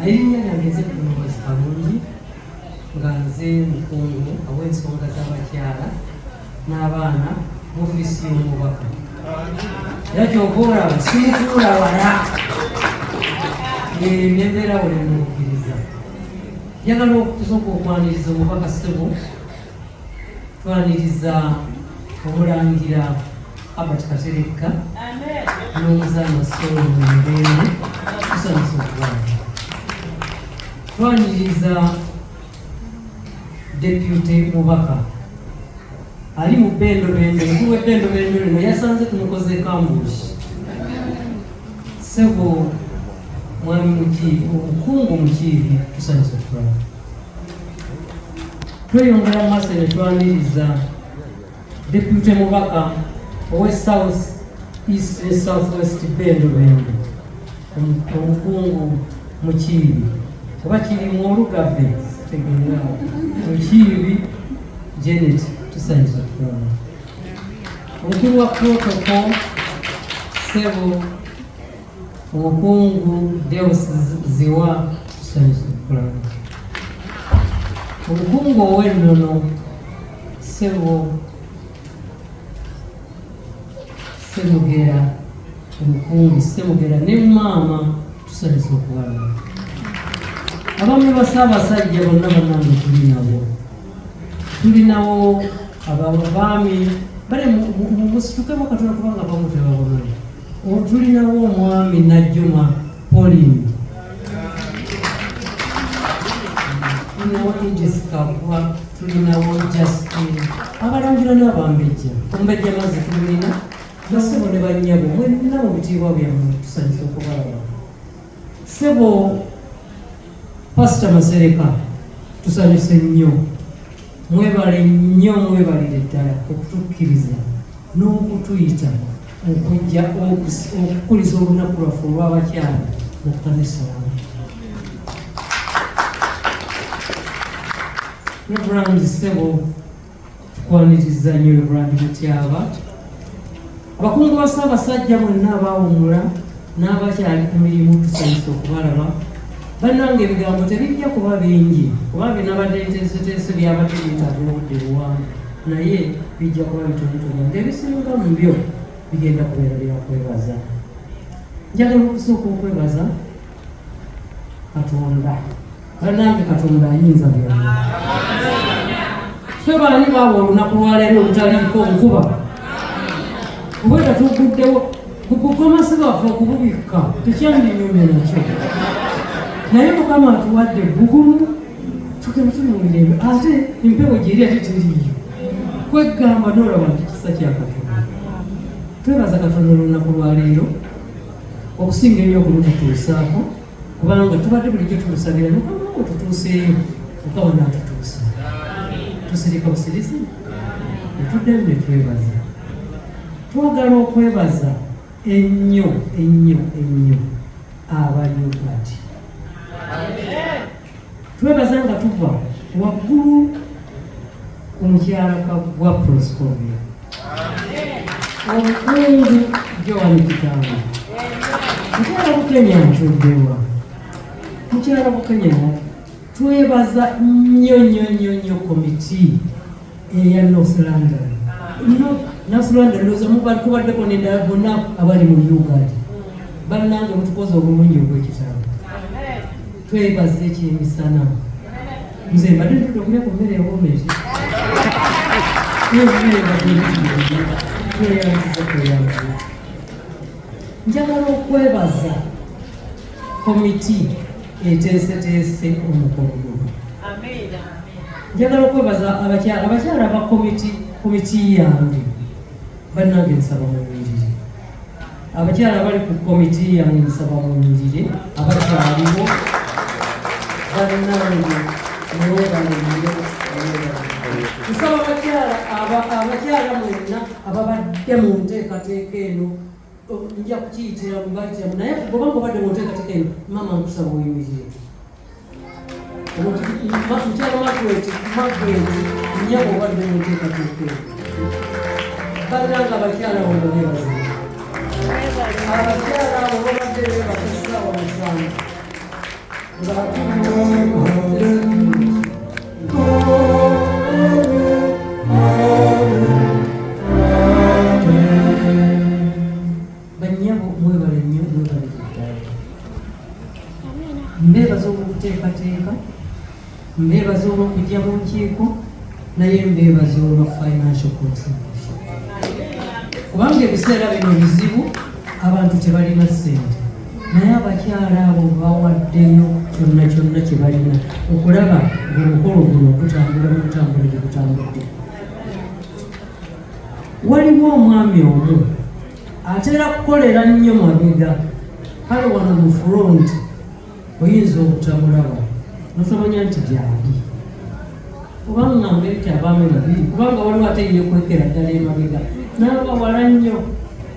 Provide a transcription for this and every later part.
erinnya lyange nze kulongozi kalungi nga nze mukungu aw'ensonga z'abakyala n'abaana mu ofiisi y'omubaka era kyova olaba simutuula wala nembeera wali mukkiriza njagala okutusoka okwaniriza omubaka ssebo Twaniriza omulangira Albert Katerekka n'omuzaana Solo Mumirembe tusanyusa okubanga twaniriza depute mubaka ali mu bendobendo mukulu w'ebendobendo lino yasanze tumukoze kambuushi sebo mwami mukiibi omukungu mukiibi tusanyusa okubanga tweyongera maso ne twaniriza depute mubaka owe south east ne south west bendo bendo omukungu mukiibi oba kiri mu olugave tegeerao mukiibi janet tusanyusa tukulaba omukulu wa protocol sebo Mukungu Deus Ziwa tusanyusa okulaba omukungu ow'ennono ssebo Ssemugera omukungu Ssemugera ne maama tusanyusa okulaba abamu basaabasajja bonna banange tuli nabo tuli nawo ababaami bale musituke bakatola kubanga bamu tebabonole Otulinawo omwami Najjuma Pauline tulinawo Idris Kakwa tulinawo Justin abalangira n'abambejja ombejja mazi tulina basebo ne bannyabo mwenna mu bitiibwa byammwe tusanyusa okubalaba Sebo Pastor Masereka tusanyuse nnyo mwebale nnyo mwebalire ddala okutukkiriza n'okutuyita okujja okukuliza olunaku lwaffe olw'abakyala mu kkanisa wamu Reverend Sebo Twaniriza nnyo Reverend Mutyaba. Abakungu ba Ssaabasajja mwenna abaawummula n'abakyali ku mirimu tusanyusa okubalaba bannange ebigambo tebijja kuba bingi kuba binabadde biteesoteeso byabadde byetaaga obudde buwanvu naye bijja kuba bitonotono ngaebisinga mu byo bigenda kubeera byakwebaza njagala okusooka okwebaza katonda banange katonda ayinza byonna fe baani baawa olunaku lwaleero olutaliiko nkuba obweda tuguddewo kukukomasi bwaffe okububikka tekyalinyumye nakyo naye mukama atuwadde bugumu tugenda tuli mumirembe ate empewo gyeri ate tiriyo kwegamba nolaba nti kisa kyakatonda twebaza katonda olunaku lwaleero okusinga ebyo okumututuusaako kubanga tubadde bulijjo tumusabira mukama wo tutuuseeyo mukama naatutuusa tusirika busirizi netuddemu netwebaza twagala okwebaza ennyo ennyo ennyo abaliyo bati twebaza nga tuva waggulu ku mukyala kagwa proscovia omukungu joan kitanga mukyala bukenya ntuddewa mukyala bukenya twebaza nnyo nnyo nnyo nnyo komiti eya North London no North London loza mubali kubadde ko nenda bonna abali mu Uganda bannange mutukoze obulungi obw'ekitabo twebaza ekyemisana nze mbadde ntude okumya ku mmere ewomezi tweyanziza tweyanziza njagala okwebaza komiti eteeseteese omukolo guno njagala okwebaza abakyala abakyala ba komiti komiti yange bannange nsaba munyirire abakyala abali ku komiti yange nsaba munyirire abakyaliwo bannange newebaneyo nsaba abakyala abakyala mwenna ababadde mu nteekateeka eno nja kukiyitira mu bajjamu naye kugoba ngobadde muntekatika eno maama nkusaba oyimirire mukyalo magweti magweti nyabo obadde muntekatika eno balina nga abakyala wano bebaza abakyala abo babadde bebasasawa musanvu nga mbeebaza olwokuteekateeka mbeebaza olwokujja mu nkiiko naye mbeebaza olwa financial contribution kubanga ebiseera bino bizibu abantu tebalina ssente naye abakyala abo bawaddeyo kyonna kyonna kye balina okulaba ngaomukolo guno okutambula mukutambulire kutambudde waliwo omwami omu atera kukolera nnyo mabega kale wano mu front oyinza obutamulaba nosamanya nti gyali kubanga mbeti abaami babiri kubanga waliwo ate yekwekera ddala emabega naaba wala nnyo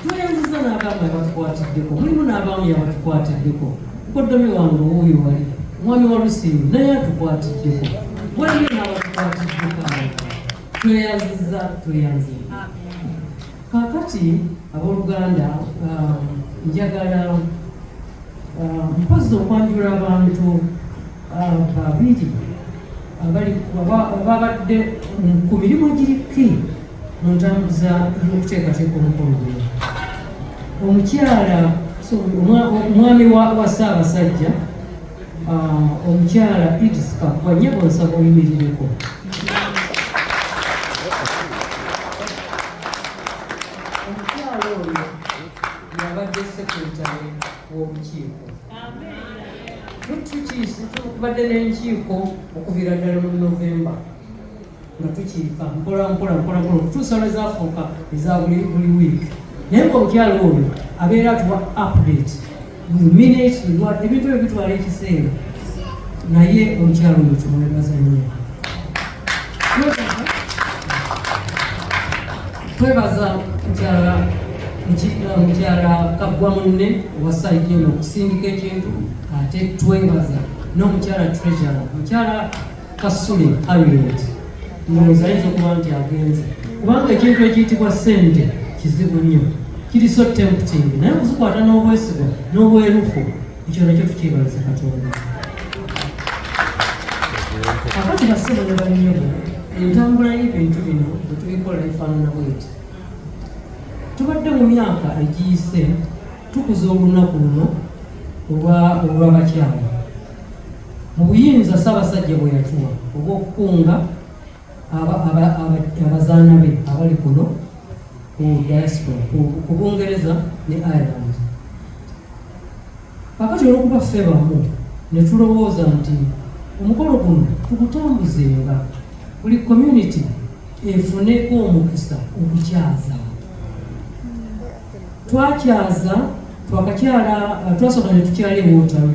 tweyanziza n'abaami abatukwatiddeko mulimu n'abaami abatukwatiddeko koddomi wange owuuyo wali omwami wa lusiimu naye atukwatiddeko waliyo n'abatukwatiddeko abo tweyanziza tweyanziza kakati abooluganda um, njagala um, mpozzi okwanjula abantu abantu babiri abali babadde ku mirimu giriki mu ntambuza y'okuteekateeka omukolo gwe omukyala omwami wa ssaabasajja uh, omukyala idis kakwa nyebo nsaba oyimirireko w'olukiiko tukibadde n'enkiiko okuviira ddala mu novemba nga tukiika mpola mpola mpola mpola okutuusa lwe zafuuka eza buli wiiki naye nga omukyalo ono abeera atuwa update buli minute ebintu ebyo bitwala ekiseera naye omukyalo ono kimwebaza nnyo twebaza mukyala mukyala kaggwa munne owasajja ono okusindika ekintu ate twebaza n'omukyala treasure mukyala kasule harriet ndowooza ayinza okuba nti agenze kubanga ekintu ekiyitibwa sente kizibu nnyo kiri so tempting naye okuzikwata n'obwesigwa n'obwerufu ekyo nakyo tukyebaza katonda kakati bassebo ne bannyobo entambula y'ebintu bino bwe tubikola efaanana bweti tubadde mu myaka egiyise tukuza olunaku luno olw'abakyala mu buyinza ssaabasajja bwe yatuwa obw'okukunga abazaana be abali kuno ku diaspora ku bungereza ne ireland kakati olwokuba ffe bamu ne tulowooza nti omukolo guno tugutambuzenga buli community efuneko omukisa okukyaza twakyaza twakakyala twasoka ne tukyala ewotawe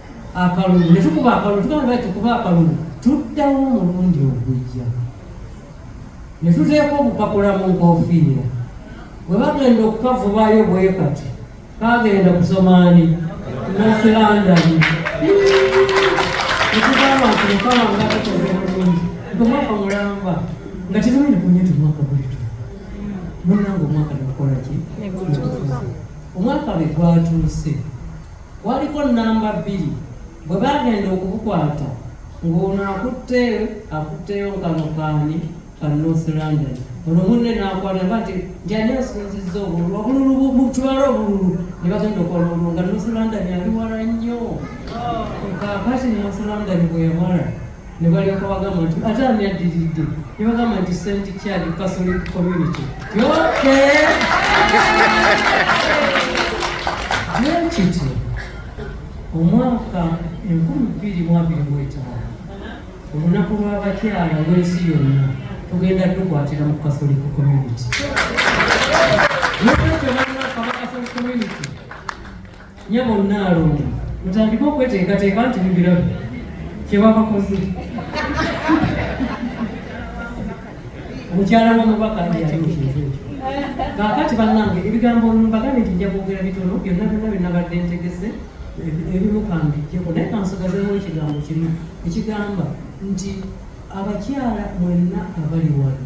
akalulu ne tukuba akalulu tugamba lwaki tukuba akalulu tuddawo omulundi ogujja ne tuteeka obupapula mu nkofiira bwe bagenda okukavubayo bwekati kagenda kusomaani nasilandani nekugamba nti mukama nga tukoze bulungi nti omwaka mulamba nga tetumanyi kunye ti mwaka bulitu munanga omwaka negukolaki omwaka bwe gwatuuse Waliko nnamba bbiri bwe bagenda okubukwata ng'ono akutte akutteyo nkano kaani ka North London ono munne n'akwata ba nti njani asinzizza obululu obululu butwala obululu ne bagenda okola obululu nga North London ali wala nnyo oh. kakati North London bwe yamala ne balyoka bagamba nti ate ani addiridde ne bagamba nti st chad catholic community yoke nekityo omwaka enkumi bbiri mu abiri mu etaano olunaku lw'abakyala lw'ensi yonna tugenda tukwatira mu catholic community nokyo banna kabaka community nyabo nnaalongo mutandike okweteekateeka nti mubirabe kyebabakoze mukyala w'omubaka nti yali mukintu kaakati bannange ebigambo mbagambe nti nja kwogera bitono byonna byonna bye nabadde ntegese ebimu kambijjeko naye kansigazemu ekigambo kimu ekigamba nti abakyala mwenna abali wano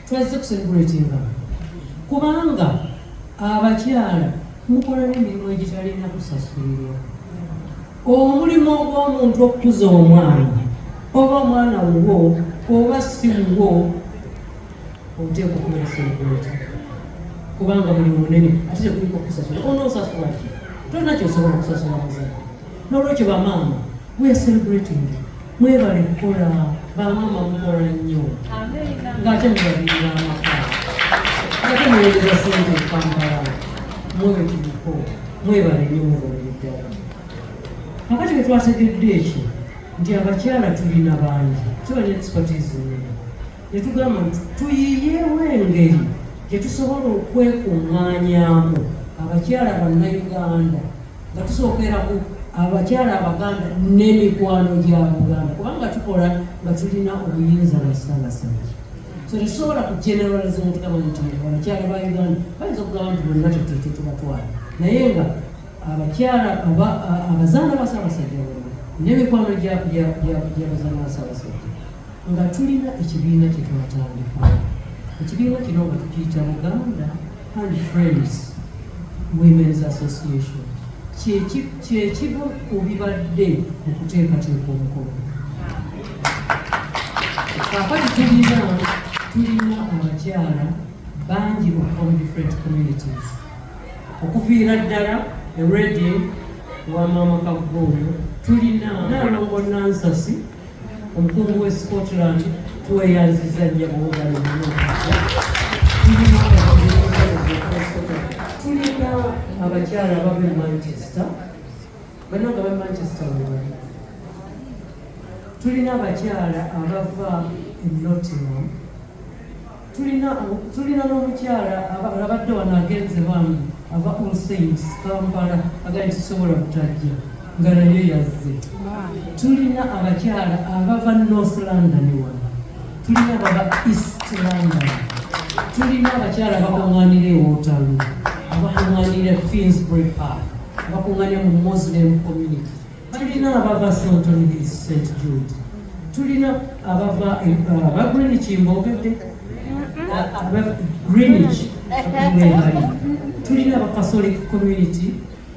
twazze kuselebuletinga kubanga abakyala mukola n'emirimu egitalina kusasulirwa omulimu ogw'omuntu okukuza omwana oba omwana wuwo oba si wuwo oteeka okubeera selebuleeti kubanga mulimu munene ate tekuliko kusasula onoosasula ki tolina kyosobola okusasula muzadde n'olwekyo bamaama We are celebrating. Mwebale kukola bamama mukola nnyo ng'ate mubabirira amaka ate muweereza sente ekampala mwewe tuliko mwebale nnyo mubabiri ddala kakati bwe twategedde ekyo nti abakyala tulina bangi tuba ne expertise nnene ne tugamba nti tuyiyeewo engeri gye tusobola okwekuŋŋaanyaamu abakyala bannayuganda nga tusookera ku abakyala abaganda n'emikwano gya buganda kubanga tukola nga tulina obuyinza bwa ssabasajja so tetusobola ku generaliza omutugamba nti abakyala ba uganda bayinza okugamba nti bonna tetete tubatwala naye nga abakyala abazaana ba ssabasajja bona n'emikwano gyabazaana ba ssabasajja nga tulina ekibiina kyetwatandika ekibiina kino nga tukiyita buganda Her Friends Women's Association kyekimu ku bibadde mu kuteekateeka omukolo kakati tulina tulina abakyala bangi okuva mu different communities okuviira ddala eredi wa maama kaggooyo tulina nalongo nansasi Omukulu w'e Scotland tweyanziza nnyo buwugalo tulina abakyala abava e Manchester bananga ba Manchester webali tulina abakyala abava e Nottingham tulina tulina n'omukyala abadde wano agenze bambi ava ku saints kampala agali tusobola kutajja nga naye yazze tulina abakyala abava north london wano tulina abava east london tulina abakyala abakuŋanira ewotalu abakuŋanira finsbury park abakuŋanira mu muslim community tulina abava sontoni st jude tulina abava eh, aba greenwich mboogedde aba greenwich webali tulina aba catholic community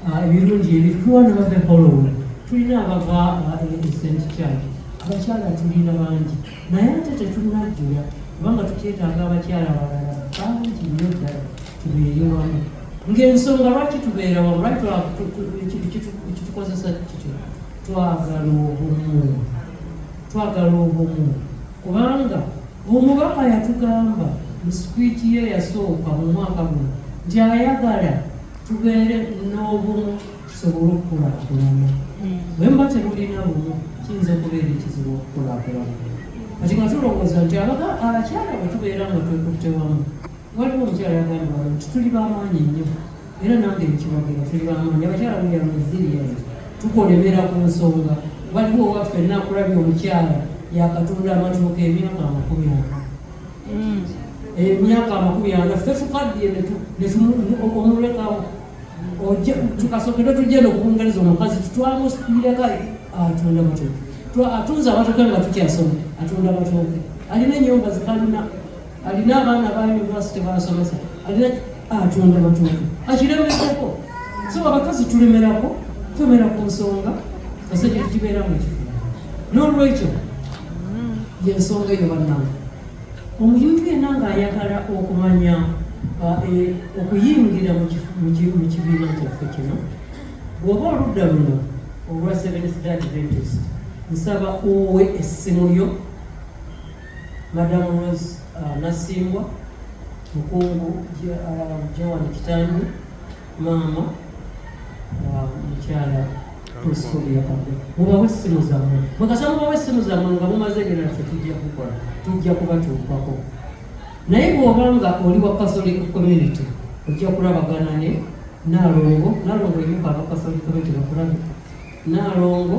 ah, ebirungi ebituwana bave hollow tulina abava eh, st church abakyala tulina bangi naye ate tetunajjula kubanga tukyetaaga abakyala abalala bangi nnyo ddala tubeere wamu ng'ensonga lwaki tubeera wamu lwaki kitukozesa kityo twagala obumu twagala obumu kubanga omubaka yatugamba mu sikwiti ye yasooka mu mwaka guno nti ayagala tubeere n'obumu tusobole okukulaakulana bwe muba temulina bumu kiyinza okubeera ekizibu okukulaakulana kati nga tulowooza nti abakyala bwe tubeera nga twekutte wamu waliwo omukyala yagamba wali nti tuli bamaanyi nnyo era nange nkiwagira tuli bamaanyi abakyala buyamuziriyani tukolemera ku nsonga waliwo owaffe nakulabya omukyala yakatunda amatooka emyaka amakumi ana mm. emyaka amakumi ana ffe tukaddiye omulekawo tukasokere tugenda okubungereza omukazi tutwamu mbireka atunda matooke atunze abatooke nga tukyasoma atunda matooke alina enyumba zikalina alina abaana ba univesity basomesa alina atunda matooke akiremerako so abakazi tulemerako twemera ku nsonga kasajja tukibeeramu ekifo n'olwekyo yensonga eyo bannange Omuntu yenna ng'ayagala okumanya e, okuyingira mu kibiina kyaffe kino, bw'oba oludda luno olwa Seventh Day Adventist, nsaba owe essimu yo Madam Rose uh, Nasimbwa mukungu uh, Joan Kitandu maama mukyala mubawe essimu zammwe mukasa mubawe essimu zammwe nga mumaze ebirala fe tujja kukola tujja kubatuukako naye bw'oba nga oli wa catholic community ojja kulabagana ne naalongo naalongo yimuka aba catholic community bakulabe naalongo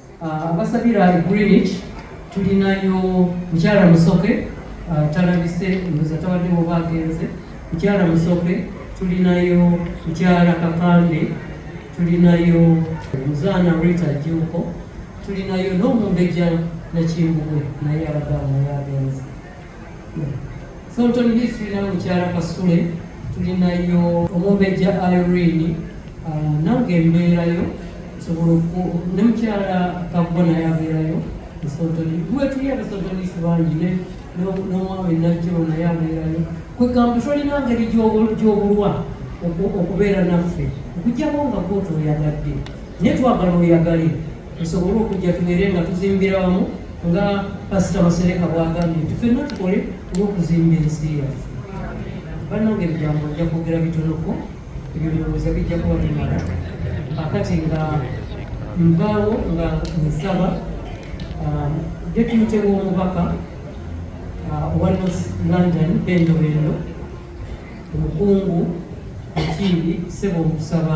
Ah, abasabira e greenwich tulinayo mukyala musoke ah, talabise mbuza tawaddewo bagenze mukyala musoke tulinayo mukyala kakande tulinayo muzaana rita juko tulinayo n'omumbejja nakimbugwe naye abadde amuyagenze Sultan Beach tulina mukyala Kasule, tulinayo omumbejja Irene, ah, nange mbeerayo nsobola ne mukyala Kabbo naye abeerayo Sultan wetuli abasultan Beach bangi n'omwami Najjolo naye abeerayo kwegamba tolina ngeri gy'obulwa okubeera naffe okujjako nga kootu oyagadde naye twagala oyagale tusobole okujja tubeere nga tuzimbira wamu nga pasita masereka bwagambye nti fenna tukole olwokuzimba ensi yaffe banange ebigambo ojja kwogera bitonoko ebyo ndowooza bijja kuba bimala akati nga nvaawo nga nsaba um, depute w'omubaka uh, owa north london bendo bendo omukungu ekiibi sebo okusaba